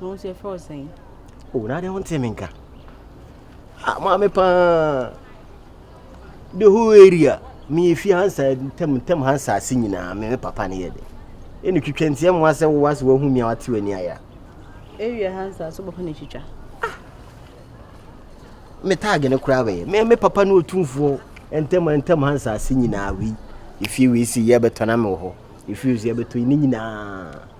Na wɔn nso yɛfrɛ wo sɛn? O, oh, na adeɛ wontee me nka. Ah, maame paa. The whole area. Me efi hansa ntɛm ntɛm hansa ase nyinaa me me papa ne yɛ de. Ɛna twitwa ntia mu asɛ wo ase wahu mi a wate w'ani aya. Area hansa so bɔfo na twitwa. Ah. Me tag ne koraa bɛyɛ. Me me papa ne otumfoɔ ntɛm ntɛm hansa ase nyinaa wi. Efi wi si yɛ bɛtɔ na me wɔ hɔ. Efi wi si yɛ bɛtɔ ne nyinaa.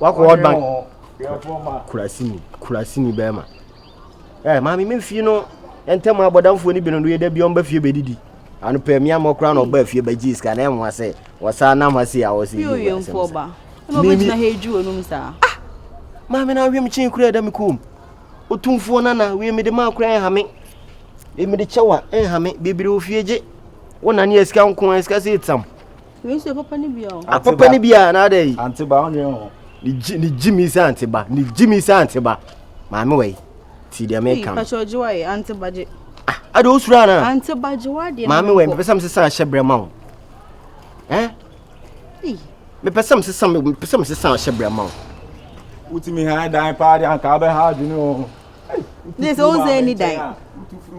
Wakɔ World Bank. Kurasini, kurasini bɛrima. Ɛ maame me fie no ntɛm abɔdamfoɔ no bi no no yɛ da bi ɔmba fie bɛdidi. Ano pɛ mmea mmɔ koraa na ɔba fie bɛgye sika na ɛmoa sɛ wɔsaa nam ha sei a wɔsɛ yi wɔ asɛm sa. Mimi ha edwu onum saa. Ah! Maame na ahwem kyen kura da me kom. Otumfoɔ nana wie mede ma akora ɛhame. Mede kyɛwa ɛhame bebere ofie gye. Wona ne asika nko asika sɛ etsam. apapa no bia anaadɛ yi ne gyimi sɛ anteba ne gyimi sɛ anteba maame wai ti deɛ meka no ah, ade wosuro ana maame wai mepɛ sɛ mesesa ahyɛ berɛ ma wo eh? mepɛ sɛ mesesa mepɛ sɛ mesesa ahyɛ berɛ ma wo wotumi ha dan paa de anka wobɛha adwene o ne sɛ wonsa ani dan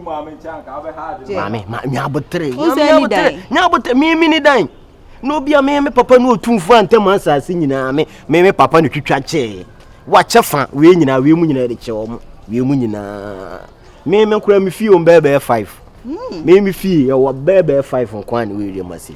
maame nyabotere nyabotere meme ne dan na obi a meme papa ne ɔtumfo a ntɛm asase nyinaa me meme papa ne twitwa kyɛɛ wakyɛ fa wei nyinaa wei mu nyinaa de kyɛ wɔ mo wei mu nyinaa meme nkora me fie ɔm bɛɛbɛɛ 5 meme fie yɛwɔ bɛɛbɛɛ 5 nkwa ne wei deɛ ma sei